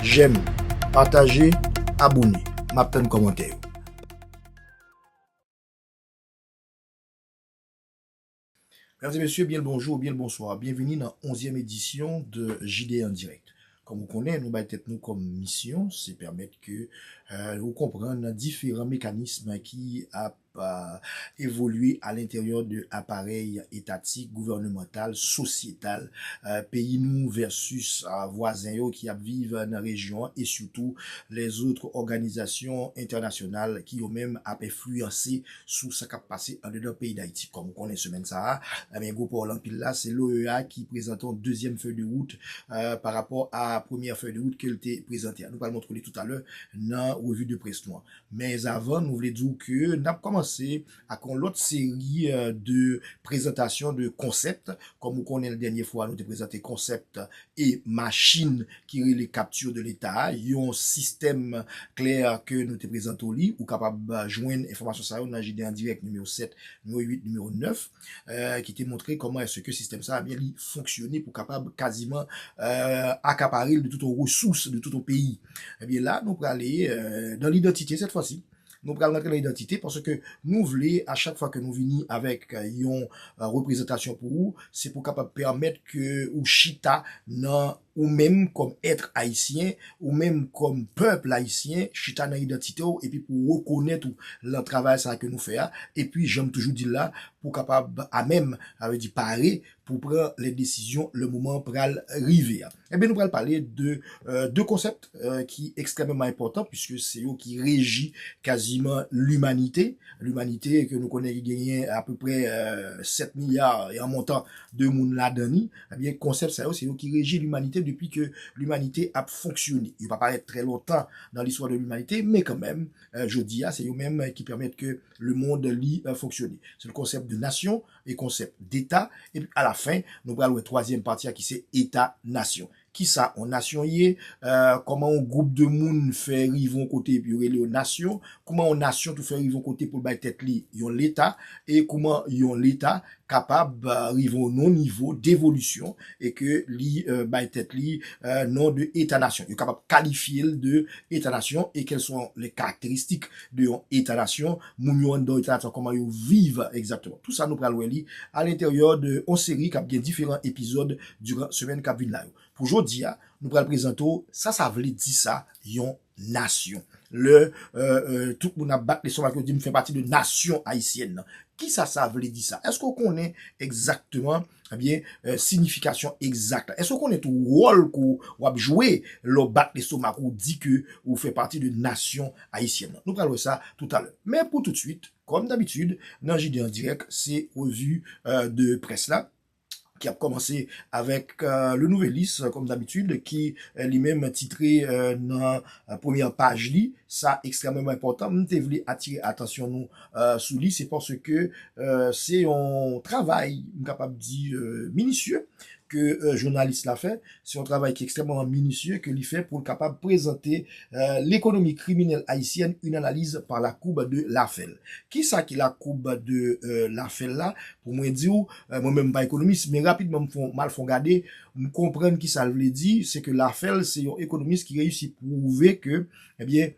Jèm, pataje, abone. M ap tann kòmantè yo. Mesdames et messieurs, bien le bonjour ou bien le bonsoir. Bienvenue nan 11e edisyon de JDA en direct. Kòm ou konnen, nou bay tèt nou kòm misyon, se pèmèt ke ou konprann diferan mekanism ki ap evolye alenteryè de aparèy etatik, gouvènemantal, sosyetal peyi nou vèsis vwazen yo ki ap viv nan rejyon an e sitou lèzotre òganizasyon entènasyonal ki yo menm ap enfliyanse sou sa k ap pase andedan peyi Dayiti. Kòm ou konnen semèn sa a, ebyen gwo pawòl anpil la, se l'OEA ki prezante yon dezyèm fèy de wout pa rapò a premyè fèy de wout ke l te prezante a. Nou pral montre w li toutalè nan revi de près nou an. Men avan nou vle di w ke n ap kòmanse ak yon lòt seri de prezantasyon de konsèp. Kòm ou konnen l dènye fwa nou te prezante konsèp e machin ki rele Capture de l'Etat a, yon sistèm kle ke nou te prezante w li. Ou kapab jwenn enfòmasyon sa yo nan JDandirèk nimewo 7, nimewo 8, nimewo 9. ki te montre kòman èske sistèm sa a li fonksyone pou kapab kaziman akapare l de tout resous, de tout peyi. Ebyen la nou prale nan lidantite sèt fwa si, nou pral rantre nan idantite paske nou vle a chak fwa ke nou vini avèk yon reprezantasyon pou ou, se pou kapab pèmèt ke ou chita nan. Ou menm kòm ètre ayisyen, ou menm kòm pèple ayisyen, chita nan idantite w epi pou w rekonèt ou lan travay sa a ke nou fè a, epi jan m toujou di l la, pou w kapab amèm, sa vle di pare, pou w pran lè desizyon lè moman an pral rive a. Enben nou pral pale de 2 konsèpt ki ekstrèmeman enpòtan puiske se yo ki reji kaziman limanite, limanite ke nou konnen ki genyen apeprè 7 milya e an montan de moun ladan ni. Ebyen, konsèp sa yo se yo ki reji limanite depi ke limanite ap fonksyone. Yo pa parèt trè lontan nan listwa de limanite, men kanmenm, jodi a, se yo menm ki pèmèt ke lemond li fonksyone. Se l konsèp de nasyon e konsèp deta, epi alafen, nou pral wè twazyèm pati a ki se eta nasyon. Kisa yon nasyon ye? Kòman yon gwoup de moun fè rive yon kote epi yo rele yo nasyon? Kouman yon nasyon tou fè rive yon kote pou l bay tèt li yon leta? E kouman yon leta kapab rive yon non nivo devolisyon e ke li bay tèt li non de eta nasyon. Yo kapab kalifye l de eta nasyon e kèl swa lè karakteristik de yon eta nasyon, moun yo anndan yon eta nasyon kòman yo viv egzakteman. Tou sa nou pral wè li alenteryè de yon seri kap gen diferan epizòd diran semèn kap vin la yo. Pou jodi a, nou pral prezante w sa sa vle di sa yon. Nasyon. Lè tout moun ap bat lestomak yo di m fè pati de nasyon ayisyèn nan. Kisa sa vle di sa? Èske ou konnen egzakteman, ebyen, sinifikasyon egzak la? Èske ou konnen tou wòl ke w ap jwe lè w bat lestomak ou, ou di ke ou fè pati de nasyon ayisyèn nan? Nou pral wè sa toutalè. Men pou toutswit, kòm dabitid, nan JD en direct, se revi de près la. ki ap kòmanse avèk Le Nouvelliste kòm dabitid ki li menm titre nan premyè paj li, sa ekstrèmeman enpòtan m te vle atire atansyon nou sou li se paske se yon travay m kapab di minisye ke jounalis la fè, Se yon travay ki ekstrèmman minisye ke li fè pou l kapab prezante lekonomi kriminèl ayisyèn, une analyse par la courbe de Lafel. Kisa ki la courbe de Lafel la? Pou mwen di w, mwen menm m pa ekonomis, men rapidman m fon, m al fon gade, m konprann kisa l vle di, se ke Lafel se yon ekonomis ki reyisi pwouve ke, ebyen,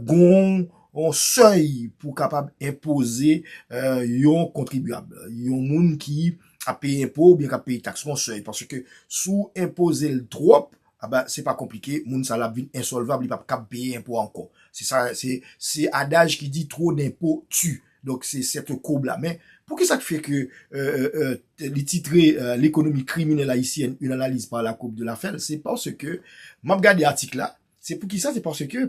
gon yon sèy pou kapab enpoze yon kontribyab, yon moun ki ap peye enpo oubyen kap peye taks yon sèy paske si w enpoze l twòp aba se pa konplike moun sa la ap vin ensòlvab li pap kab peye enpo a ankò se sa se se adaj ki di twò denpo ti donk se sèt koub la men poukisa k fè ke èèèè li titre lekonomi kriminèl ayisyèn yn analiz pa la koub de la fèl se paske map gade atik la se poukisa se paske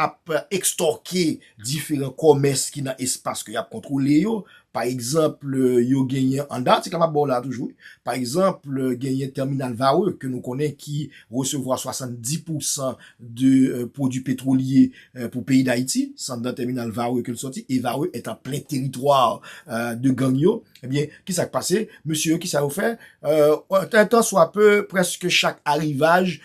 ap ekstòke diferan kòmès ki nan espas ke y ap kontwole yo. Pa egzanp, yo genyen, an dan atik la m ap ba w la a toujou wi, pa egzanp, genyen tèminal Varreux ke nou konnen ki resevwa 70 pousan de pwodui petwolye pou peyi Dayiti. Se an dan tèminal Varreux ke l sòti e Varreux est en plein territoire de gang yo. Ebyen, ki sa k pase? Mesye yo ki sa yo fè? An tan swa peu, prèske chak arivaj,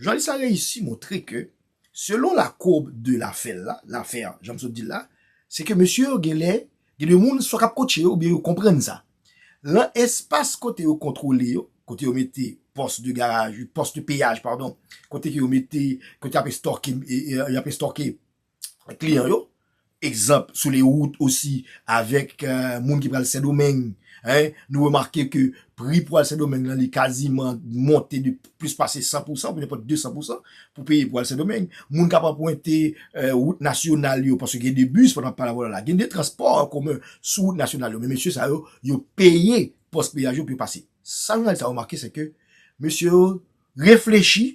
Jounalis la reyisi montre ke selon la courbe de l'affaire la, lafè an jan m sot di l la, se ke mesye yo genlè gen de moun swa k ap kotche yo oubyen yo konprann sa. Lan espas kote yo kontwole yo, kote yo mete pòs de garaj, pòs de peyaj padon, kote ke yo mete, kote y ap estòke, y ap estòke. kliyan yo, egzanp sou le wout osi avèk moun ki pral Sendomeng, nou remake ke pri pou al Sendomeng lan li kaziman monte de plis pase 100 pousan oubyen nenpòt 200 pousan pou peye pou al Sendomeng. Moun kap anprente wout nasyonal yo paske gen de bis pandan pala vòlò la, gen de transpò an komen sou wout nasyonal yo men mesye sa yo, yo peye pòs peyaj yo pou yo pase. Sa nou al ta remake se ke mesye yo reflechi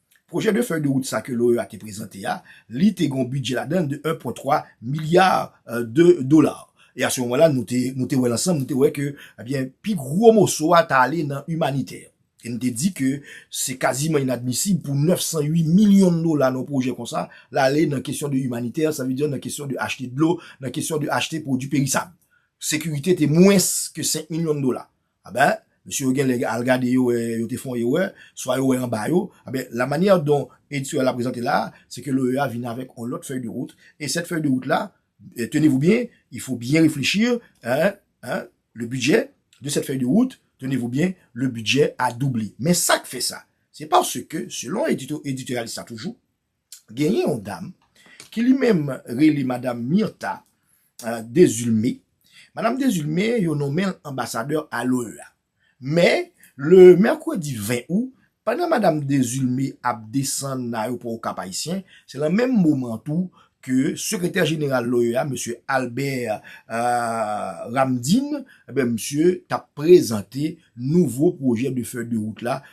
Pwojè de fèy de wout sa ke l'OEA te prezante a, li te gen yon bidjè ladan de 1 pwen 3 milya de dola. E a se moman la nou te nou te wè l ansanm, nou te wè ke ebyen pi gwo moso a ta ale nan imanitè. E nou te di ke se kaziman inadmisib pou 908 milyon dola nan yon pwojè konsa l'ale nan kesyon de imanitè, sa vle di nan kesyon de achte dlo, nan kesyon de achte pwodui perisab. Sekirite te mwens ke 5 milyon dola. Anben, mesye yo genlè al gade yo wè yo te fè yon erè, swa yo wè anba yo. Anben, la manyè don Ed Soeur la prezante la a, se ke l'OEA vin avèk yon lòt fèy de wout. E sèt fèy de wout la, tenez vous bien, il faut bien réfléchir, hein, hein, le budget de cette feuille de route, tenez vous bien, le budget a doublé. Men sa k fè sa? Se paske, selon editò, editoralis la toujou, Genyen yon dam ki li menm rele madam Myrtha Desulme. Madam Desulme yo nonmen l anbasadè a l'OEA. Men, le mèkredi 20 out, pandan madam Desulme ap desann nan ayopò Okap Ayisyen, se lan menm moman tou ke sekretè jeneral l'OEA, mesye Albert Ramdin, misye t ap prezante nouvo pwojè de fèy de wout la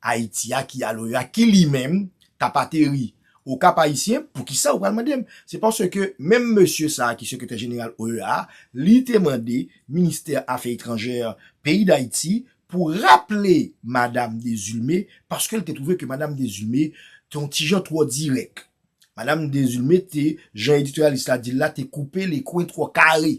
Ayiti a ki alo yo a ki li menm k ap ateri o Kap Ayisyen? Poukisa ou pral mande m? Se paske menm mesye sa a ki sekretè jeneral OEA a, li te mande ministè afè etranjè peyi Dayiti pou raple madam Dezulme paske l te twouve ke madam Dezulme te yon ti jan twò dirèk. Madam Dezulme te, jan editoryalis la di l la, te koupe lekwen twò kare.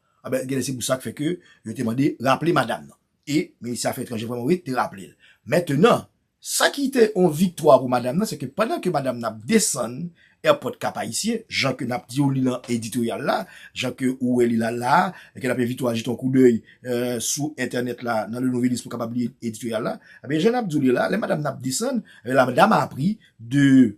Anben, genlè se pou sa k fè ke yo te mande raple madam nan. E Minis Afè Etranjè vrèman wi te raple l. Mentenan, sa ki te yon viktwa pou madam nan, se ke pandan ke madam nan ap desann èpòt Kap Ayisyen, jan ke n ap di w li nan editoryal la, jan ke ou wè li la la a, e ke n ap envite w a jete yon koudèy sou entènèt la nan Le Nouvelliste pou w kapab li editoryal la. Anben, jan n ap di w li la, lè madam nan ap desann, la dam a pris de.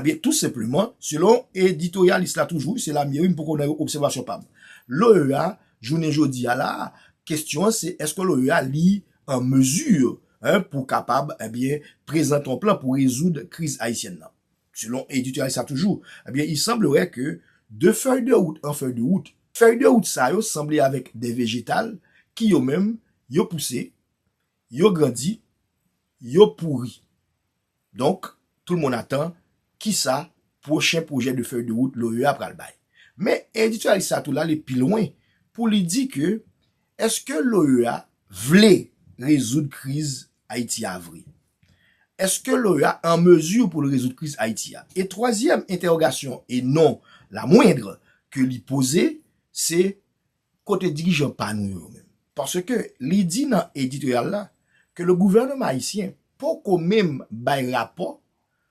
Ebyen tou senpleman, selon editoryalis la toujou, se Lamie wi m poko nan obsèvasyon pa m. L'OEA, jounen jodi a la a, kesyon an se èske l'OEA li an mezi pou kapab ebyen prezante yon plan pou rezoud kriz ayisyèn nan. Selon editoryalis la toujou, ebyen il semblerait que de feuille de route en feuille de route, fèy de wout sa yo sanble avèk de vejetal ki yo menm yo pouse, yo grandi, yo pouri. Donk, tout moun atan ki sa pwochen pwojè de fèy de wout l'OEA pral bay. Men, endistwyalis sa tou l'ale pi lwen pou li di ke eske l'OEA vle rezoud kriz Ayiti a vre? Eske l'OEA an mezi pou l rezoud kriz Ayiti a? E twazyèm entèwogasyon e non la moindre ke li poze se Kote dirijan pa nou yo menm? Paske li di nan editoryal la ke le gouvernement haïtien poko menm bay rapò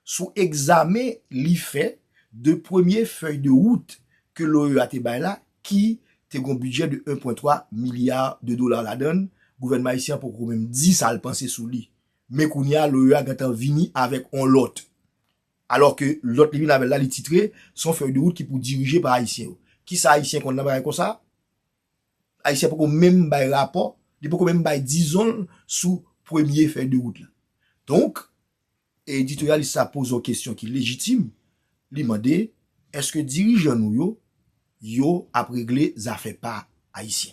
sou egzamen li fè de premye fèy de wout ke l'OEA te bay la ki te gon bidjè de 1.3 milya de dola ladann, gouvènman ayisyen an poko menm di sa l panse sou li. Men kounye a l'OEA gentan vini avèk on lòt Alò ke lòt livi Labèl la li titre, Se yon fèy de wout ki pou dirije pa Ayisyen yo. Kisa Ayisyen konn nan bagay konsa? Ayisyen poko menm bay rapò, li poko menm bay dizon l sou premye fèy de wout la. Donk, editoryalis la poze yon kesyon ki lejitim, li mande, Èske dirijan nou yo, yo ap regle zafè pa Ayisyen?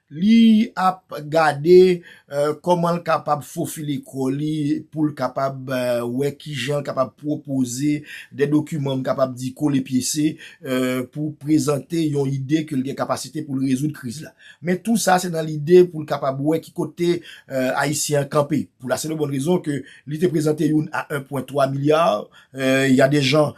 Li ap gade kòman l kapab fofile kò li pou l kapab wè ki jan l kapab pwopoze de dokiman m kapab di kole pyese pou prezante yon ide ke l gen kapasite pou l rezoud kriz la. Men tou sa se nan lide pou l kapab wè ki kote Ayisyen an kanpe. Pou lasenbon rezon ke li te prezante youn a 1.3 milyar, ya de jan.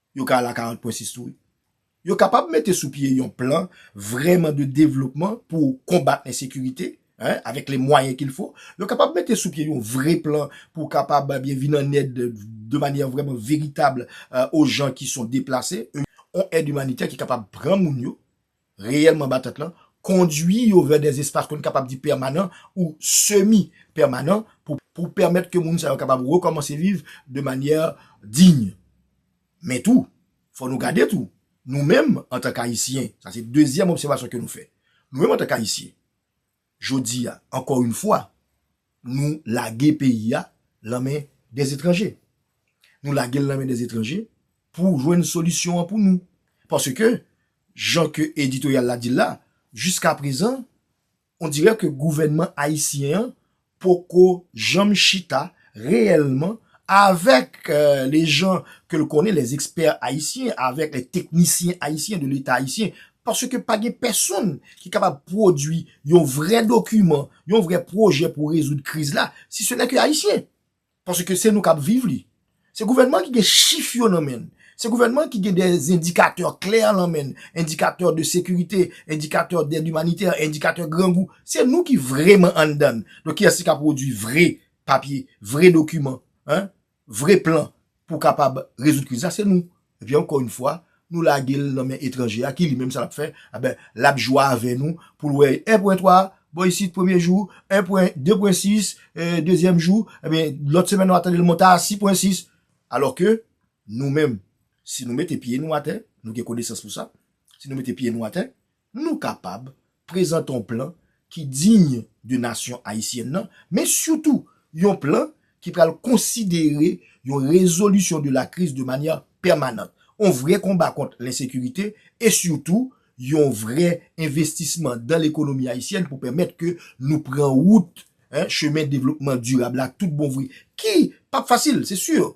Yo ka al a 40 pwen 6 tou wi. Yo kapab mete sou pye yon plan vrèman de devlopman pou konbat ensekirite, hein, avèk les moyens qu'il faut. Yo kapab mete sou pye yon vre plan pou kapab eh byen vin an èd de manyè vrèman veritab o jan ki son deplase, yon èd imanitè ki kapab pran moun yo, reyèlman batant lan, kondwi yo vè dè espas kon kapab di pèmanan ou semi pèmanan pou pèmèt ke moun sa yo kapab rekòmanse viv de manyè diy. Men tou, fò nou gade tou, nou menm antank Ayisyen, sa se dezyèm obsèvasyon ke nou fè, nou menm antank Ayisyen, Jodi a, ankò yn fwa, nou lage peyi a lan men dè etranje. Nou lage l lan men dè etranje pou jwenn solisyon an pou nou. Paske, jan ke editoryal la di l la, jiska prezan, on dirè ke gouvènman ayisyen an poko janm chita reyèlman avèk lejan ke l konnen, lèzekspè ayisyen, avèk lèteknisyen ayisyen de leta ayisyen Paske pa gen pèsonn ki kapab pwodui yon vrè dokiman, yon vrè pwojè pou rezoud kriz la, si se nè ke Ayisyen. Paske se nou k ap viv li. Se gouvènman ki gen chif yo nan men l. Se gouvènman ki gen dè endikatè klè nan men l. Endikatè de sekirite, endikatè dèd imanitè, endikatè grangou. Se nou ki vreman anndan l. Donk kiyès ki ka pwodui vre papye, vre dokiman? Vre plan pou kapab rezoud kriz la se nou. Epi ankò yn fwa nou lage l nan men etranje a ki li menm sa lap fè aben lap jwa avè nou pou l wè 1.3 bò isit premye jou 1.2.6 dezyèm jou ebyen lòt semèn wap tande l monte a 6.6 alò ke nou menm si nou mete pye nou atè nou gen konesans pou sa si nou mete pye nou atè Nou kapab prezante yon plan ki diy de nasyon ayisyèn nan, men sitou yon plan ki pral konsidere yon rezolisyon de la kriz de manyè pèmanant, yon vrè konba kont lensekirite e sitou yon vrè envestisman dan lekonomi ayisyèn pou pèmèt ke nou pran wout chemen devlopman dirab la tout bon vre, ki pap fasil, se sur.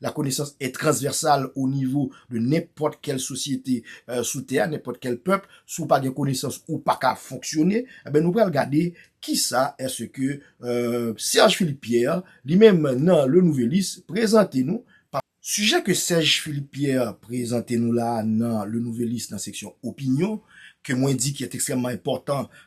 La connaissance est transversale au niveau de nenpòt kèl sosyete sou tè a, nenpòt kèl pèp, si w pa gen konesans ou pa ka fonksyone, enben nou pral gade kisa èske Serge Philippe Pierre li menm nan Le Nouvelliste prezante nou. Sijè ke Serge Philippe Pierre prezante nou la a nan Le Nouvelliste nan seksyon opinyon, ke mwen di ki est extrèmement enpòtan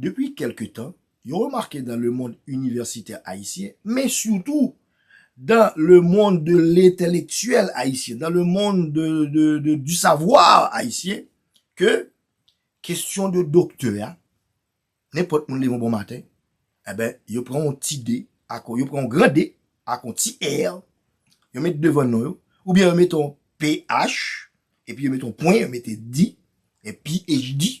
Depi kèlke tan, yo remake dan lemonn inivèsitè ayisyen, men sitou dan lemonn de lentelektyèl ayisyen, dan lemonn du savoir ayisyen, ke kestyon de doktè a, nenpòt moun leve yon bon maten, enben, yo pran yon ti de, ak yo pran yon gran de, ak yon ti er, yo met devan non yo, oubyen yo met yon ph, epi yo met yon pwen, yo mete di, e phd,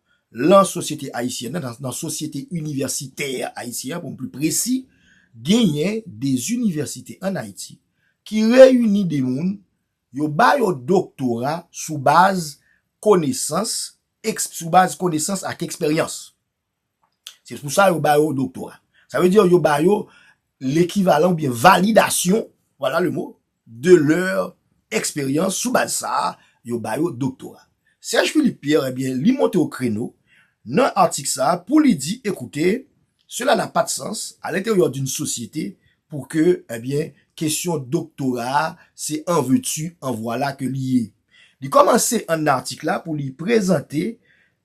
Lan sosyete ayisyèn nan, nan sosyete inivèsitè ayisyen an pou m pli presi, genyen de inivèsite ann Ayiti ki reyini de moun, yo ba yo doktora sou baz konesans, eksp, sou baz konesans ak eksperyans. Se pou sa yo ba yo doktora. Sa vle di yo ba yo lekivalan oubyen validasyon, vwala le mo, de lèr eksperyans sou baz sa a yo ba yo doktora. Serge Philippe Pierre ebyen li monte o kreno nan atik sa a pou li di ekoute sela na pat sans a lenteryè d'un sosyete pou ke ebyen kesyon doktora a se an ve tu an vwala ke li ye. Li kòmanse an atik la pou li prezante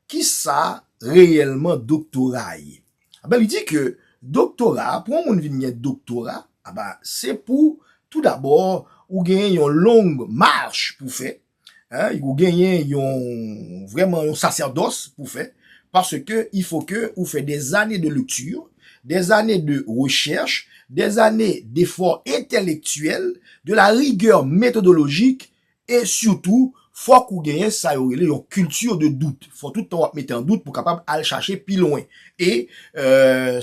Ki sa reyèlman doktora ye? Anben li di ke doktora, pou yon moun vin gen doktora, anben se pou tou dabò ou genyen yon long marche pou fè, ou genyen yon vrèman yon sasèdos pou fè, pase ke il fo ke ou fè de zane de lecture, de zane de recherche, de zane d'effort intellectuel, de la rigueur methodologique E sitou, fòk ou genyen sa yo rele yon culture de doute. Fò tout tan w ap mete an dout pou w kapab al chache pi lwen. E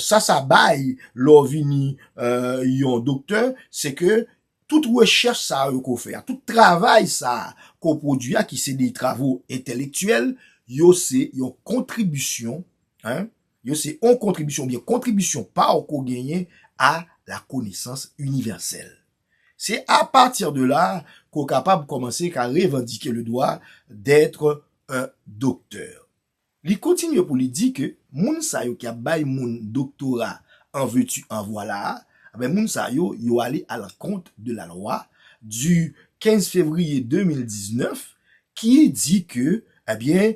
sa sa bay lè w vini yon doktè, se ke tout rechèch sa yo ke w fè a, tout travay sa a ke w pwodui a, ki se de travo entelektyèl, yo se yon kontribisyon, yo se yon kontribisyon oubyen kontribisyon pa w ke w genyen a la konesans inivèsèl. Se a pati de la ke w kapab kòmanse ka revandike le dwa d'etre un docteur. Li kontinye pou li di ke moun sa yo ki ap bay moun doktora an veti an vwala a, enben moun sa yo, yo ale alankont de la lwa du 15 fevriye 2019 ki di ke, enben,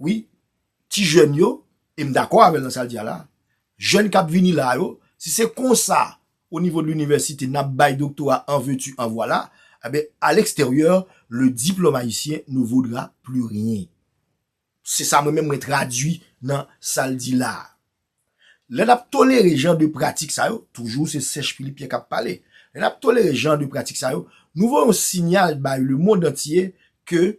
Wi, ti jèn yo, e m dakò avè l nan sa l di a la, jèn k ap vini la yo, si se konsa o nivo de linivèsite n ap bay doktora an veu-tu an vwala, enben a leksteryè, le diplome haïtien ne vaudra plus rien. Se sa mwen menm mwen tradui nan sa l di la a. Lè n ap tolere jan de pratik sa yo, toujou se Sèch Philippe Pierre k ap pale, lè n ap tolere jan de pratik sa yo, nou voye yon sinyal bay lemonn antye ke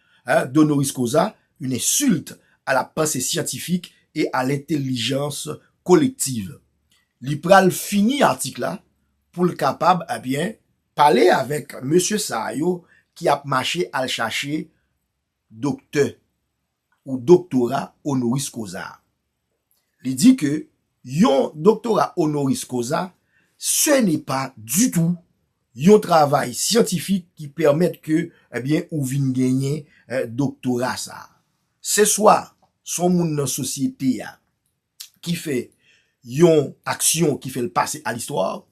Un don horis causa, une insulte à la pensée scientifique et à l'intelligence collective. Li pral fini atik la pou l kapab ebyen pale avèk mesye sa yo ki ap mache al chache doktè ou doktora honoris causa a. Li di ke yon doktora onoris koza se ne pa ditou yon travay syantifik ki pèmèt ke ebyen ou vin genyen doktora sa. Se swa son moun nan sosyete a ki fè yon aksyon ki fè l pase a listwa,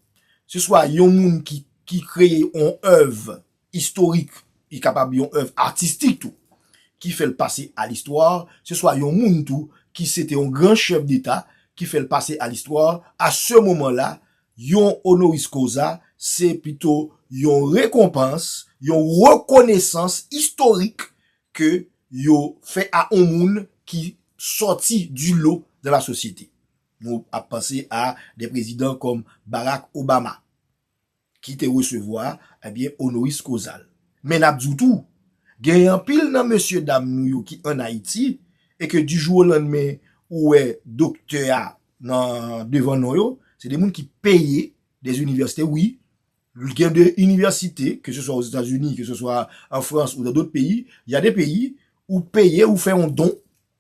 se swa yon moun ki kreye yon èv istorik, li kapab yon èv atistik tou, ki fè l pase a listwa, se swa yon moun tou ki se te yon gran chèf deta, ki fè l pase a listwa, a se moman la, yon honoris causa, se pito yon rekonpans, yon rekonesans istorik ke yo fè a yon moun ki sòti di lo dan la sosyete. Nou ap panse a de prezidan kòm Barack Obama. ki te resevwa ebyen onoris kozal. Men nap di w tou, gen anpil nan mesye dam nou yo ki an Ayiti e ke di jou o landmen ou wè doktè a nan devan non yo, se de moun ki peye de inivèsite wi, gen de inivèsite ke se swa Ozetazini, ke se swa an Frans ou nan dot peyi, ya de peyi ou peye ou fè yon don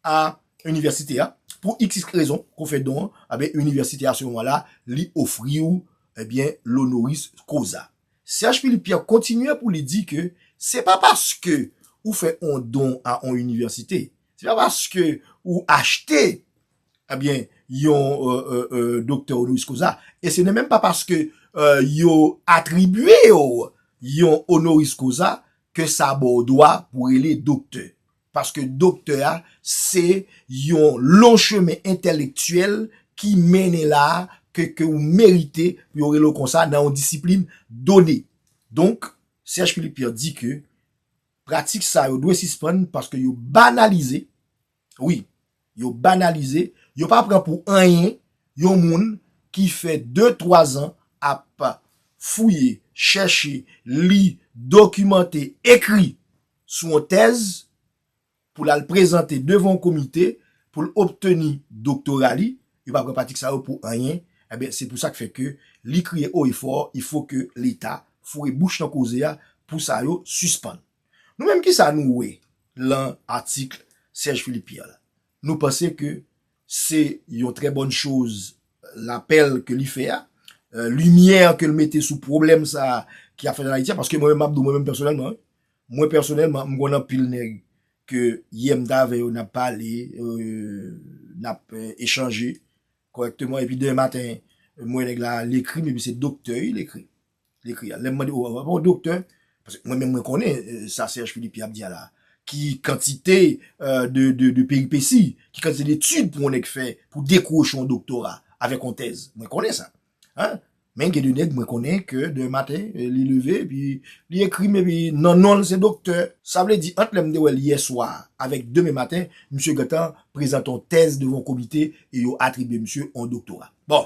a inivèsite a pou xix rezon ke w fè don an, enben inivèsite a se moman la li ofri w enbyen lonoris koza. Serge Philippe Pierre kontinye pou li di ke se pa paske ou fè on don a on inivèsite, se pa paske ou achte enbyen yon doktè onoris koza e se nè menm pa paske yo atribye w yon onoris koza ke sa ba w dwa pou rele doktè. Paske doktè a se yon long chemen entèlektyèl ki mennen la a ke ke ou merite pou yo rele w konsa nan yon disiplin done. Donk, Serge Philippe Pierre di ke pratik sa yo dwe sispann paske yo banalize, wi, Yo banalize, yo pa pran pou anyen yon moun ki fè de twa zan ap fouye, chèche, li, dokimante, ekri sou yon tèz pou l al prezante devan yon komite pou l obteni doktora li, yo pa pran pratik sa yo pou anyen. Enben, se pou sa k fè ke li kriye o e fò, il faut ke Leta foure bouch nan koze a pou sa yo sispann. Nou menm kisa nou wè lan atikl Serge Philippe Pierre la? Nou panse ke se yon trè bòn choz lapèl ke li fè a, limyè ke l mete sou pwoblèm sa a ki ap fèt an Ayiti a, paske mwen menm map di w mwen menm pèsonèlman wi, mwen pèsonèlman m konn anpil nèg ke yè m t avè yo nap pale, nap echanje kòrèkteman epi demen maten m wè nèg la l ekri m epi se doktè wi l ekri. Li ekri a. Lè m mande, ou pa doktè? Paske mwen menm mwen konnen sa Serge Philippe ap di a la. Ki kantite de peripesi, ki kantite de etid pou yon nèg fè pou dekwoche yon doktora avèk yon tèz. Mwen konnen sa. Men gen de nèg mwen konnen ke demen maten li leve epi li ekri m epi nan non l se doktè. Sa vle di ant lè m te wè l yè swa avèk demen maten, misye gentan prezante yon tèz devan yon komite e yo atribye misye yon doktora. Bon!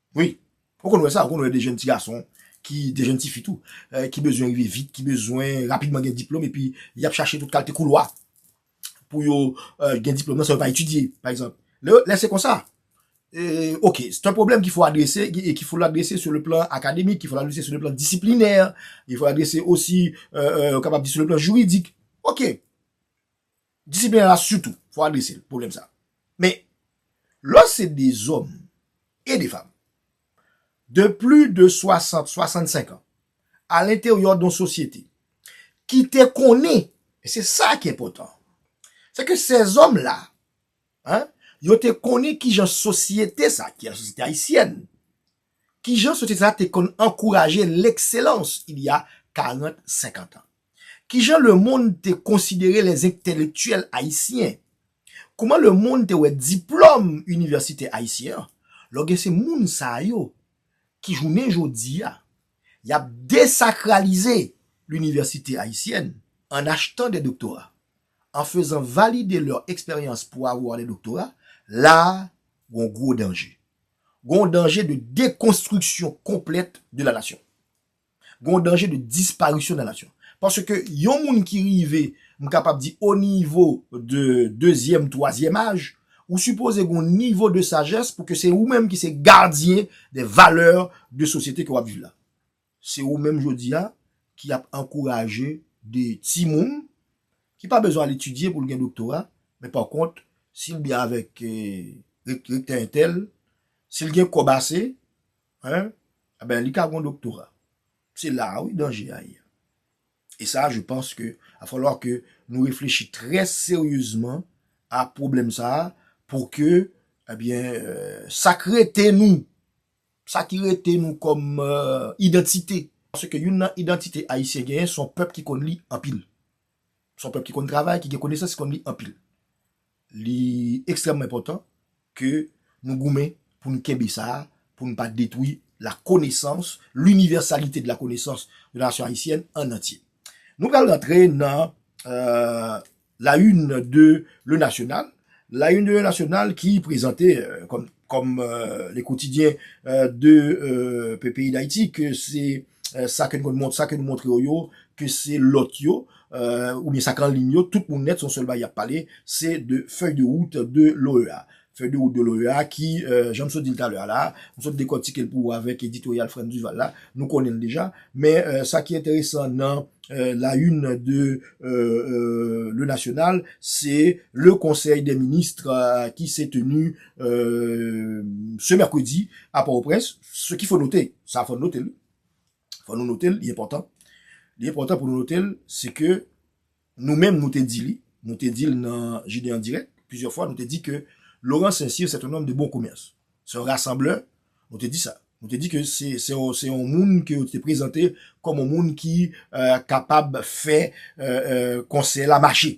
Wi, ou konn wè sa, ou konn wè de jèn ti gason, ki de jèn ti fi tou, ki bezwen rive vit, ki bezwen rapidman gen diplòm epi y ap chache tout kalte koulwa pou yo gen diplòm nan san yo pa etidye, pa egzanp. Lè se konsa, ok, se yon pwoblèm ki fò adrese, ki fò adrese sou le plan akademik, ki fò adrese sou le plan disiplinè, ki fò adrese osi, ou kapab di sou le plan jiridik. Ok, Disiplin la sitou, fò adrese l, pwoblèm sa. Men, lò se de zòm e de fanm, de pli de 60, 65 an, a lenteryò don sosyete, ki te konnen, e se sa ki enpòtan, se ke sè zòm la, an, yo te konnen ki jan sosyete sa, ki lasosyete ayisyèn, ki jan sosyete sa te konn ankouraje lekselans il y a 40, 50 an. Kijan lemonn te konsidere lèzentelektyèl ayisyen? Kouman lemonn te wè diplòm inivèsitè ayisyen an? Lò gen se moun sa yo ki jounen jodi a, y ap desakralize linivèsite ayisyèn an achtan dè doktora, an fezan valide lè eksperyans pou avwa dè doktora, la a gon gwo danje. Gon danje de dekonstriksyon konplèt de la nasyon. Gen yon danje de disparisyon nan nasyon. Paske yon moun ki rive, m kapab di o nivo de dezyèm, twazyèm aj, ou sipoze gen yon nivo de sajès pou ke se ou menm ki se gadyen de valè de sosyete ke w ap viv la. Se ou menm jodi a ki ap ankouraje de ti moun ki pa bezwen al etidye pou l gen doktora, men pa kont si l byen avèk rektè entèl, si l gen kòb ase, Hein? Ah ben li ka gon doktora. Se la a wi danje a ye a. E sa a je panse ke a falwa ke nou reflechi trè seryezman a pwoblèm sa a pou ke eh byen sa k rete nou, sa ki rete nou kòm idantite. Paske youn nan idantite Ayisyen genyen se yon pèp ki konn li anpil. Se yon pèp ki konn travay, ki gen konesans, ki konn li anpil. Li ekstrèmman enpòtan ke nou goumen pou nou kenbe sa, pou nou pa detwi la konesans, l'universalité de la connaissance de la nation haïtienne en entier. Nou pral rantre nan La Une de Le National, La Une de Le National ki prezante kòm le quotidien de peyi d'Haïti ke se. sa ke nou montre yo yo, ke se lòt yo, oubyen sa k anliy yo, tout moun nèt se yon sèl bagay y ap pale, se de fèy de wout de l'OEA. Fèy de wout de l'OEA ki, jan m sot di l talè a la, m sot dekòtike l pou ou avèk editoryal Frantz Duval la, nou konnen l deja, men sa ki enteresan nan la une de Le National, se le conseil des ministres qui s'est tenu ce mercredi à Port-au-Prince, Ce ki fò note, sa fò note l wi, fò nou note l, li enpòtan, li enpòtan pou nou note l, se ke nou menm nou te di li, nou te di l nan Jide an Dirèk plizyè fwa, nou te di ke Laurent Saint-Cyr c'est un homme de bon commerce, c'est un rassembleur, nou te di sa, nou te di ke se yon moun ke yo te prezante kòm yon moun ki kapab fè konsèy la mache.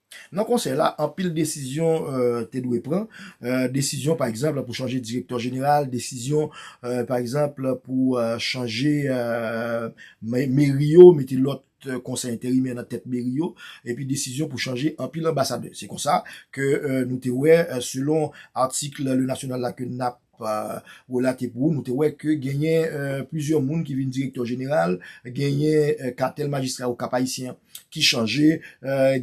Nan konsèy la, anpil desizyon te dwe pran, desizyon pa egzanp pou chanje direktè jeneral, desizyon pa egzanp pou chanje meri yo, mete lòt konsèy enterimè nan tèt meri yo, epi desizyon pou chanje anpil anbasadè. Se konsa ke nou te wè selon atik Le National la ke n ap. pa relate pou ou, nou te wè ke genyen plizyè moun ki vin direktè jeneral, genyen katèl majistra yo Kap Ayisyen an ki chanje,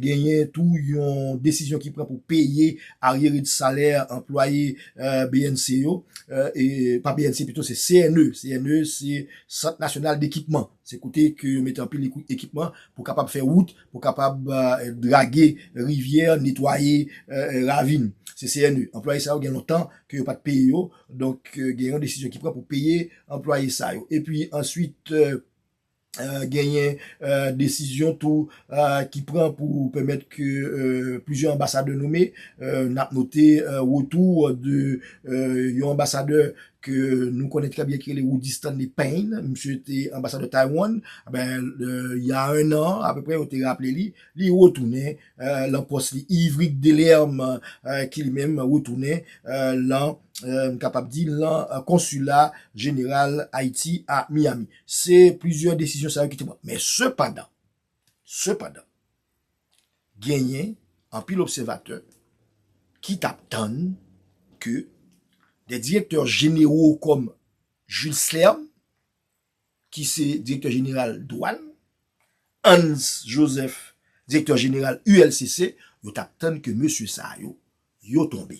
genyen tou yon desizyon ki pran pou peye aryere de salè anplwaye bnc yo, pa bnc pito se CNE, CNE se sant nasyonal de ekipman, se kote ke yo mete anpil ekipman pou kapab fè wout, Pou kapab drage rivyè, netwaye ravin. CCNE. Anplwaye sa yo gen lontan ke yo pa t peye yo, donk gen yon desizyon ki pran pou peye anplwaye sa yo. Epi answit genyen desizyon tou ki pran pou pèmèt ke plizyè anbasadè nome, n ap note retou de yon anbasadè ke nou konnen trè byen ki rele Rudy Stanley Payne, misye te anbasadè Taiwan, ben il y a un an apeprè yo te raple li, li retounen lan pòs li, Yverick Delerme ki li menm retounen lan, m kapab di lan konsila jeneral Ayiti a Miami. Se plizyè desizyon sa yo ki te pran. Men sepandan. Sepandan, genyen anpil obsèvatè ki t ap tann ke de direktè jenewo kòm Jules Slern, ki se direktè jeneral dwàn, Hans Joseph, direktè jeneral ULCC, yo t ap tann ke mesye sa yo, yo tonbe.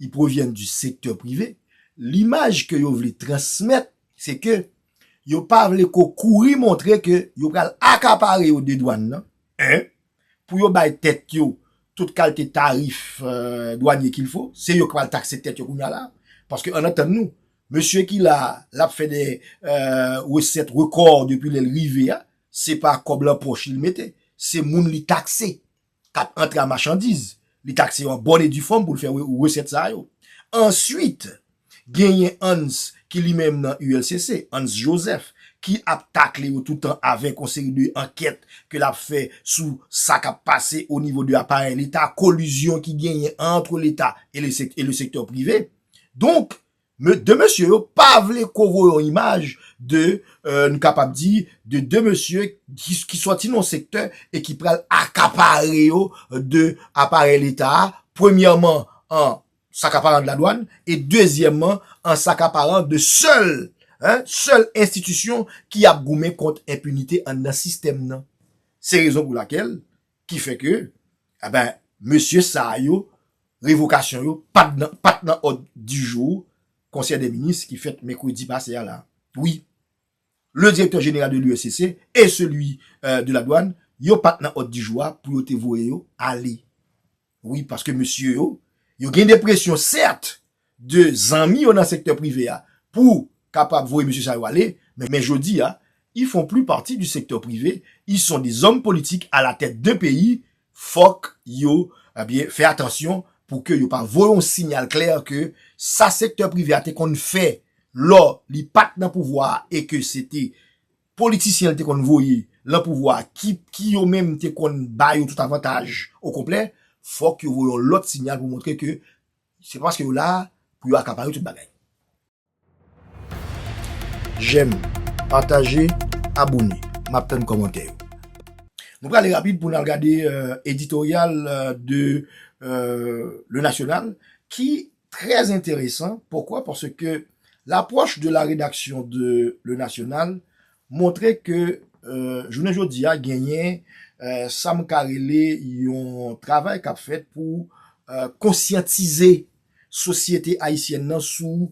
Ils proviennent du secteur privé, l'image ke yo vle transmèt se ke yo pa vle ko kouri montre ke yo pral akapare yo de dwann nan, 1, pou yo bay tèt yo tout kalte tarif dwanye kil fo, se yo k pral takse tèt yo kounya la, paske ann antann nou, mesye ki la a, l ap fè de resèt rekò depi lè l rive a, se pa kòb lan pòch li l mete, se moun li takse. k ap antre a machandiz, li takse yo an bòn e di fòm pou l fè resèt sa yo. Answit, genyen Hans ki li menm nan ULCC, Hans Joseph, ki ap takle yo tout tan avèk yon seri de ankèt ke l ap fè sou sa k ap pase o nivo de aparèy leta, kolizyon ki genyen antre leta e le sektè prive. Donk. Me 2 mesye yo pa vle ko voye yon imaj de, nou kapab di, de 2 mesye ki sòti nan yon sektè e ki pral akapare yo de aparèy leta a, premyèman an sakaparan de la dwann e dezyèmman an sakaparan de sèl, sèl enstitisyon ki ap goumen kont enpinite anndan sistèm nan. Se rezon pou lakèl Ki fè ke, a ben, mesye sa yo, revokasyon yo, pat nan òd di jou konsèy de minis ki fèt mèkredi pase a la. Wi, le direktè jeneral de l'USCC e seli de la douane, yo pat nan òd di jou a pou yo te voye yo ale. Wi paske mesye yo, yo gen de presyon sèt de zanmi yo nan sektè prive a pou kapab voye mesye sa yo ale, men jodi a, ils font plus partie du secteur privé, ils sont des hommes politiques à la tête d'un pays, fòk yo ebyen fè atansyon pou ke yo pa voye yon sinyal klè ke sa sektè prive a te konn fè lò li pat nan pouvwa a e ke se te politisyen l te konn voye lan pouvwa ki yo menm te konn ba yo tout avantaj okonplè, fòk yo voye yon lòt sinyal pou montre ke se pa paske yo la pou yo akapare tout bagay. Jèm, pataje, abone. M ap tann kòmantè yo. Nou prale rapid pou n al gade editoryal de Le National ki Très intéressant, pourquoi? Parce que l'approche de la rédaction de Le National montre ke jounen jodi a genyen sa m ka rele yon travay k ap fèt pou konsyantize sosyete ayisyèn nan sou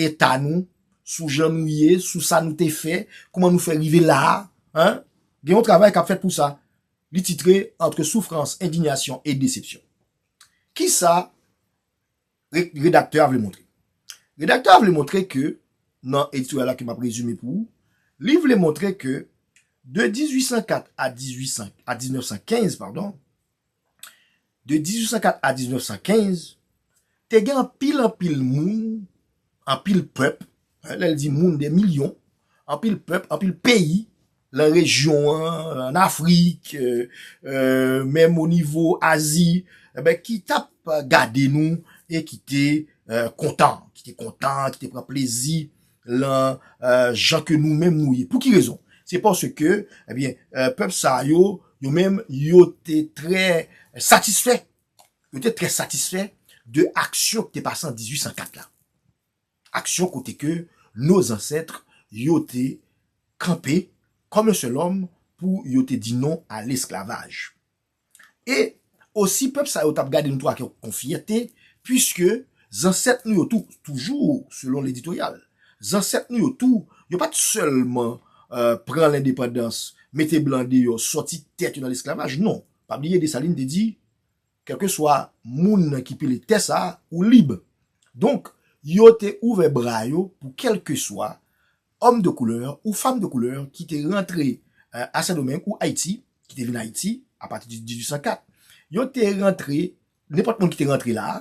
eta nou, sou jan nou ye, sou sa nou te fè, kouman nou fè rive la a. Gen yon travay k ap fèt pou sa. Li titre Entre souffrance, indignation et déception. Ki sa redaktè a vle montre? Redaktè a vle montre ke, nan editoryal la ke m ap rezime pou ou, li vle montre ke de 1804 a 1915, padon, de 1804 a 1915, te gen anpil anpil moun Anpil pèp, lè l di moun, dè milyon, anpil pèp, anpil peyi lan rejyon an, an Afrik, menm o nivo Azi, enben ki tap gade nou e ki te kontan, ki te kontan, ki te pran plezi lan jan ke nou menm nou ye. Pou ki rezon? Se paske, enben, pèp sa yo, yo menm, yo te trè satisfè Yo te trè satisfè de aksyon ki te pase an 1804 la. Aksyon kote ke nou zansètre yo te kanpe kòm yon sèl òm pou yo te di non a lesklavaj. E osi pèp sa yo tap gade nou tou ak yon fyète pwiske zansèt nou yo tou, toujou selon leditoryal, zansèt nou yo tou, yo pat sèlman pran lendepandans, mete blan deyò, sòti tèt yo nan lesklavaj, non. Pa bliye Desalin te di, Kèlkeswa moun nan ki pile tè sa a, ou lib. Donk, yo te ouvè bra yo pou kèlkeswa òm de koulè ou fanm de koulè ki te rantre a Sendomeng ou Ayiti, ki te vin Ayiti apati de 1804. Yo te rantre, nenpòt moun ki te rantre la a,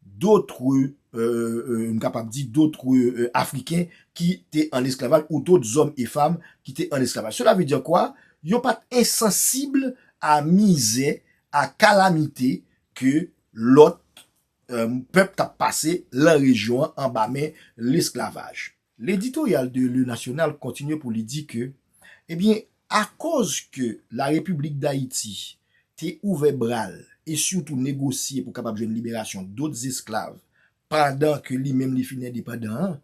dotre, m kapab di, dotre Afriken ki te an esklavaj ou dot zòm e fam ki te an esklavaj. Sela ve dire kwa? Yo pa t ensansib a mizè, a kalamite ke lòt pèp t ap pase lan rejyon an anba men lesklavaj. Leditoryal de Le National kontinye pou li di ke, ebyen, akoz ke La Repiblik Dayiti te ouvè bra l e sitou negosye pou kapab jwenn liberasyon dot zesklav pandan ke li menm li fin endepandan an,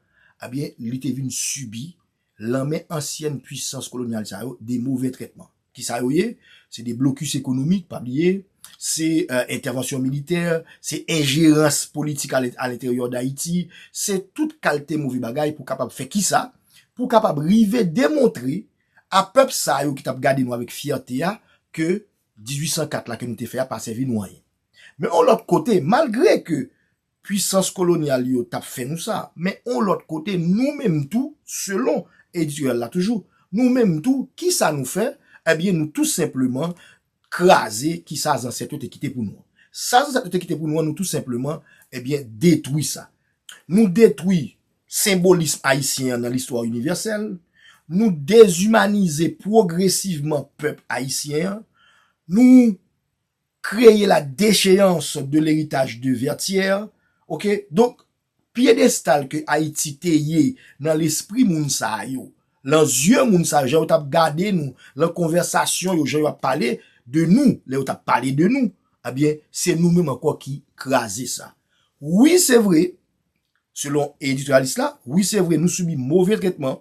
ebyen, li te vin sibi, lan men ansyèn pwisans kolonyal sa yo, de move trètman. Kisa yo ye? Se de blokis ekonomik, pa bliye, se entèvansyon militè, se enjerans politik alenteryò Dayiti, se tout kalte move bagay pou kapab fè kisa? Pou kapab rive demontre a pèp sa yo ki t ap gade nou avèk fyète a ke 1804 la ke nou te fè a pa sèvi nou anyen. Men yon lòt kote, malgre ke Pwisans kolonyal yo t ap fè nou sa. Men yon lòt kote, nou menm tou, selon editorial la toujou, nou menm tou, ki sa nou fè? Ebyen, nou tou senpleman kraze ki sa zansèt yo te kite pou nou an. Sa zansèt yo te kite pou nou an, nou tou senpleman, ebyen, detwi sa. Nou detwi senbolism ayisyen an nan listwa inivèsèl. Nou dezimanize pwogresivman pèp ayisyen an. Nou Kreye la decheyans de leritaj de Vètyè, ok. Donk, pyedestal ke Ayiti te ye nan lespri moun sa yo, lan zye moun sa yo, jan yo t ap gade nou, lan konvèsasyon yo, jan yo ap pale de nou, lè yo t ap pale de nou, ebyen, se nou menm ankò ki kraze sa. Wi se vre, selon editòryalis la, wi se vre nou sibi move tretman,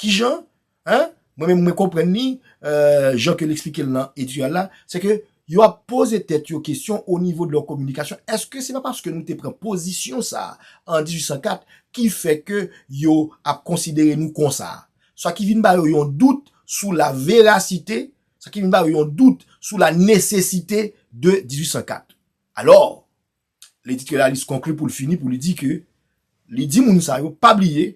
Kijan? Hein? Mwen menm mwen konprann li jan ke li eksplike l nan editorial la, se ke yo ap poze tèt yo kesyon o nivo de lè kominikasyon, eske se pa paske nou te pran pozisyon sa a an 1804 ki fè ke yo ap konsidere nou konsa? Sa ki vin ba yo yon dout sou la verasite, sa ki vin ba yo yon dout sou la nesesite de 1804. Alò, L'editorialiste conclut pou l fini pou li di ke li di moun sa yo pa bliye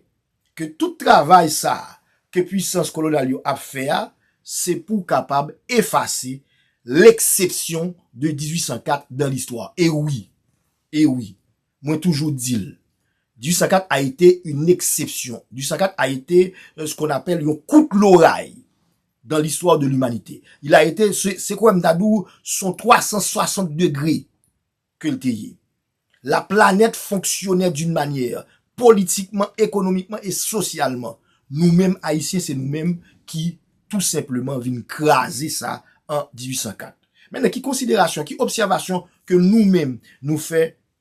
ke tout travay sa a ke pwisans kolonyal yo ap fè a se pou kapab efase l'exception de 1804 dans l'histoire. E wi! E wi! Mwen toujou di l, 1804 a ete une exception, 1804 a ete ce qu'on appelle yon kout loray Dans l'histoire de l'humanité. Il a été, se kwè m ta di w, son 360 degre ke l te ye. La planète fonctionnait d'une manière, politikman, ekonomikman e sosyalman. Nou menm Ayisyen se nou menm ki tou senpleman vin kraze sa an 1804. Mennen ki konsiderasyon, ki obsèvasyon ke nou menm nou fè?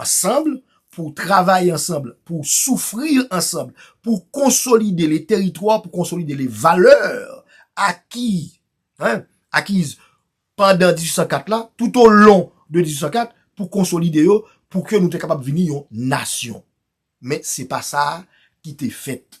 Ansanm, pou travay ansanm, pou soufri ansanm, pou konsolide le teritwa, pou konsolide le valè aki, akiz pandan 1804 la, tout o lon de 1804, pou konsolide yo, pou ke nou te kapab vini yon nasyon. Men, se pa sa ki te fèt.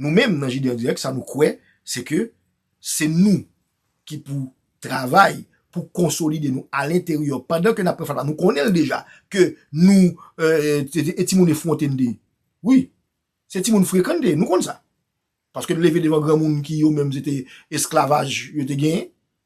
Nou menm nan JD en direct sa nou kwè se ke se nou ki pou travay pou konsolide nou a l'interieur pandan ke nap pran fatra a nou konnen l deja ke nou e timoun efwonte n te ye wi se timoun frekan n te ye nou konn sa paske n leve devan granmoun ki yo menm se te esklavaj yo te genyen.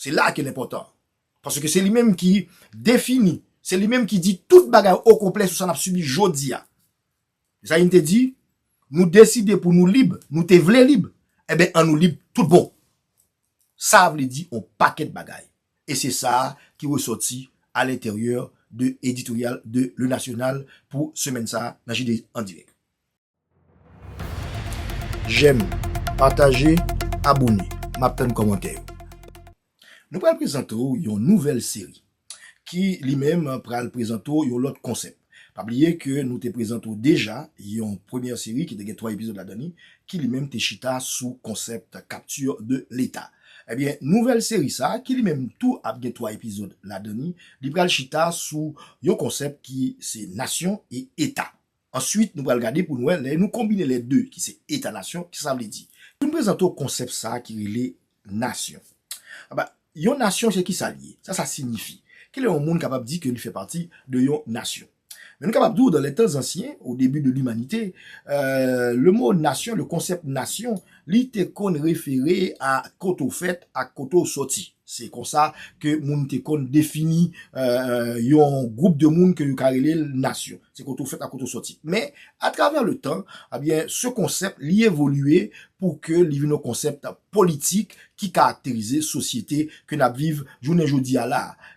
Se la a ke l enpòtan an. Paske se li menm ki defini, se li menm ki di tout bagay okonplè sou sa n ap sibi jodi a. Zayin te di, Nou deside pou nou lib, nou te vle lib, enben an nou lib tout bon. Sa a vle di on pakèt bagay. E se sa a ki resòti alenteryè de editoryal de Le National pou semèn sa a nan JDandirèk. Jèm, pataje, abone. Map tann kòmantè yo. Nou pral prezante w yon nouvèl seri ki li menm pral prezante w yon lòt konsèp. Pa bliye ke nou te prezante w deja yon premyè seri ki te gen 3 epizòd ladan li ki li menm te chita sou konsèp capture de l'Etat. Ebyen, nouvèl seri sa ki li menm tou ap gen 3 epizòd ladan li, li pral chita sou yon konsèp ki se nasyon e eta. Answit nou pral gade pou n wè lè nou konbine lè 2 ki se eta nasyon kisa sa vle di. Pou n prezante w konsèp sa ki rele nasyon. Aba yon nasyon se kisa l ye? Sa sa sinyifi? Ki lè yon moun kapab di ke li fè pati de yon nasyon? Men nou kapab di w dan lè tan zansyen, o debi de limanite, le mo nasyon, le konsèp nasyon, Li te konn refere a kote w fèt ak kote w soti. Se konsa ke moun te konn defini yon gwoup de moun ke yo ka rele l nasyon. Se kote w fèt ak kote w soti. Men, atravè le tan, ebyen, se konsèp li evolye pou ke li vin yon konsèp politik ki karakterize sosyete ke n ap viv jounen jodi a la a.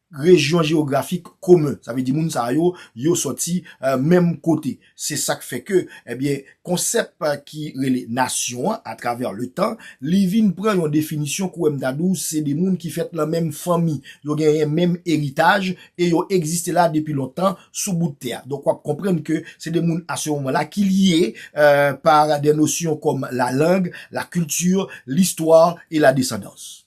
Rejyon jewografik komen. Sa vle di moun sa yo, yo sòti menm kote. Se sa k fè ke, ebyen, konsèp ki rele nasyon an, atravè letan, li vin pran yon definisyon kouwè m ta di w se 2 moun ki fèt nan menm fanmi. Yo genyen menm eritaj e yo egziste la depi lontan sou bout tè a. Donk w ap konprann ke se 2 moun a se moman la ki lye par des notions comme la langue, la culture, l'histoire et la descendance.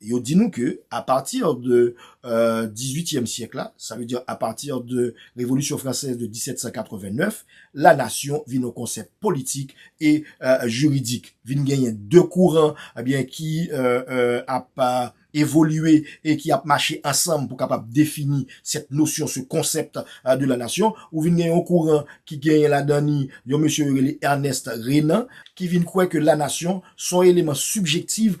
Yo di nou ke a pati de dizuityèm syèk la, sa vle di a pati de Revolisyon Fransèz de 1789, la nasyon vin yon konsèp politik e jiridik. Vin genyen de kouran ki ap evolye e ki ap mache ansanm pou kapab defini sèt nosyon, se konsèp de la nasyon. Ou vin gen yon kouran ki genyen ladan ni yon mesye yo rele Ernest Renan, ki vin kwè ke la nasyon son eleman sibjektiv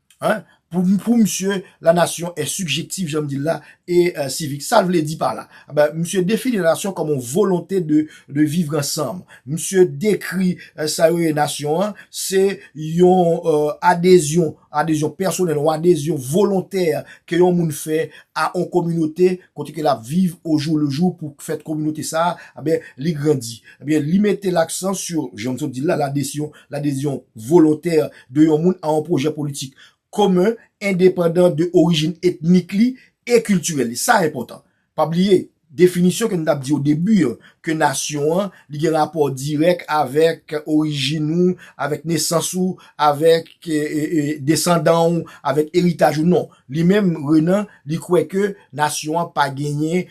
Hein pou misye la nasyon è sigjektif janm dil la e sivik sal vle di pa la misye defini la nasyon kòm yon volonte de vivre ansanm misye dekri sa yo ye nasyon an se yon adezyon adezyon pèsonèl yon adezyon volontè ke yon moun fè a yon kominote kote ke lap viv ojou lejou pou fèt kominote sa ben li grandi li mete laksan sou janm sot dil la ladesyon ladezyon volontè. de yon moun a yon pwojè politik komen endepandan de orijin etnik li e kiltirèl li. Sa enpòtan. Pa bliye, definisyon ke nou t ap di odebi an, ke nasyon an, li gen rapò dirèk avèk orijin ou, avèk nesans ou, avèk desandan ou, avèk eritaj ou. Non. Li menm, Renan, li kwè ke nasyon an pa genyen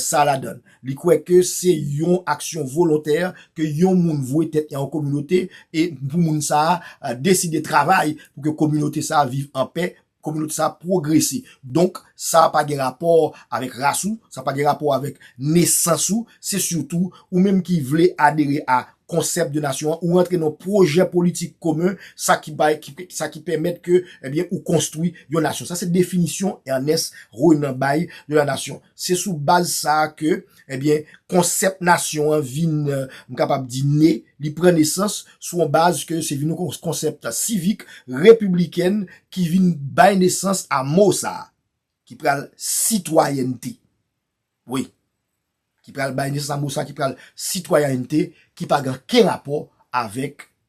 sa ladan l. Li kwè ke se yon aksyon volontè ke yon moun vwe tèt li a yon kominote e pou moun sa a deside travay pou ke kominote sa a viv an pè, kominote sa a pwogrese. Donk, sa pa gen rapò avèk ras ou, sa pa gen rapò avèk nesans ou, se sitou ou menm ki vle adere a konsèp de nasyon an, ou rantre nan yon pwojè politik komen, sa ki bay, sa ki pèmèt ke, ebyen, ou konstwi yon nasyon. Sa se definisyon Ernest Renan bay de la nation. Se sou baz sa a ke, ebyen, konsèp nasyon an vin, m kapab di, ne, li pran nesans, sou yon baz ke se vin yon konsèp sivik, repiblikèn, ki vin bay nesans a mo sa a, ki pral sitwayènte. Wi. Ki pral bay nesans a mo sa a ki pral sitwayènte, ki pa gen anken rapò avèk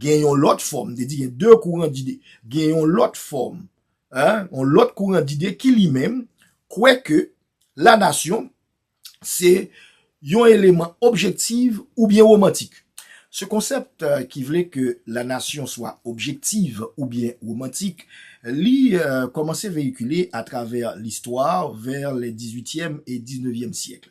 Gen yon lòt fòm, m te di gen 2 kouran dide. Gen yon lòt fòm, yon lòt kouran dide ki li menm kwè ke lanasyon se yon eleman objektiv oubyen womantik. Se konsèp ki vle ke lanasyon swa objektiv oubyen womantik, li kòmanse veyikile atravè listwa vè lè dizuityèm e diznevyèm syèkl.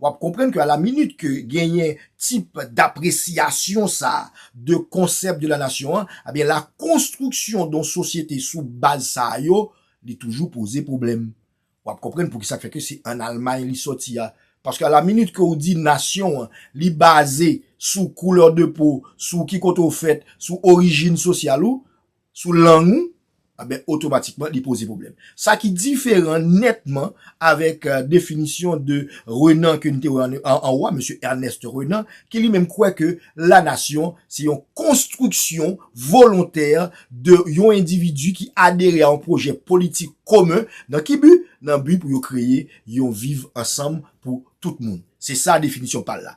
W ap konprann ke a la minit ke genyen tip dapresiyasyon sa a de konsèp de la nasyon an, ebyen la konstriksyon don sosyete sou baz sa a yo, li toujou poze pwoblèm. W ap konprann pou ki sa k fè ke se an Almay li sòti a. Paske a la minit ke ou di nasyon an, li baze sou koulè de po, sou ki kote ou fèt, sou orijin sosyal ou, sou lang ou, enben otomatikman li poze pwoblèm. Sa ki diferan nètman avèk definisyon de Renan ke nou te wè anwo a, Mesye Ernest Renan, ki li menm kwè ke la nasyon se yon konstriksyon volontè de yon endividi ki adere a yon pwojè politik komen, nan ki bi? Nan bi pou yo kreye yon viv ansanm pou tout moun. Se sa definisyon pa l la.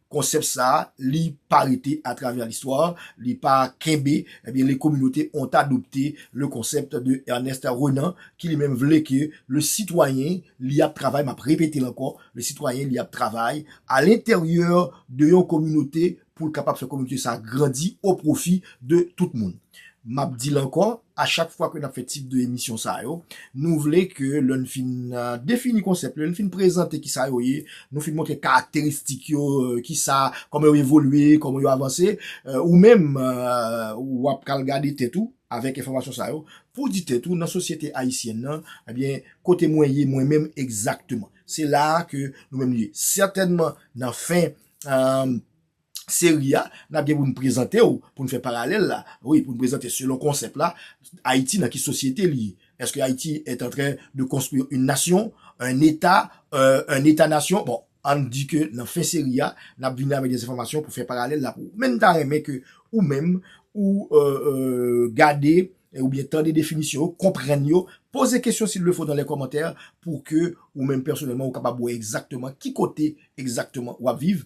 Konsèp sa a, li pa rete a travè listwa, li pa kenbe, ebyen les communautés ont adopté le concept de Ernest Renan ki li menm vle ke le citoyen li ap travay, map repete l ankò, le citoyen li ap travay a l'interieur de yon communauté pou l kapab fè communauté sa a grandi au profit de tout moun. Map di l ankò, A chak fwa ke n ap fè tip de emisyon sa yo, nou vle ke lè n fin defini konsèp, lè n fin prezante ki sa yo ye, nou fin montre karakteristik yo, ki sa, kòman yo evolye, kòman yo avanse, ou menm, w ap ka al gade tèt ou avèk enfòmasyon sa yo, pou w di tèt ou nan sosyete ayisyèn nan, ebyen, kote mwen ye mwen menm egzakteman. Se la a ke nou menm nou ye. Sètènman, nan fen seri a, n ap gen pou n prezante w, pou n fè paralèl la, wi, pou n prezante selon konsèp la, Ayiti nan ki sosyete li ye? Eske Ayiti est en train de construire une nation, un État, un État-nation? Bon, an n di ke nan fen seri a, n ap vini avèk des enfòmasyon pou fè paralèl la pou ou. Men n ta renmen ke ou menm, ou gade oubyen tande definisyon yo, konprann yo, poze kesyon s'il le faut dans les commentaires pou ke ou menm pèsonèlman ou kapab wè egzakteman ki kote egzakteman w ap viv,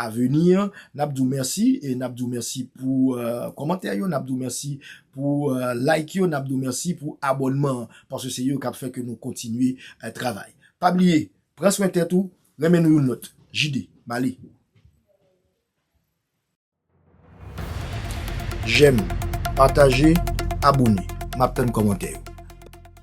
Aveni an, n ap di w mèsi e n ap di w mèsi pou kòmantè yo, n ap di w mèsi pou like yo, n ap di w mèsi pou abònman an, paske se yo k ap fè ke nou kontinye travay. Pa bliye, pran swen tèt ou, renmen nou youn lòt. JD, m ale. Jèm, pataje, abone. M ap tann kòmantè yo.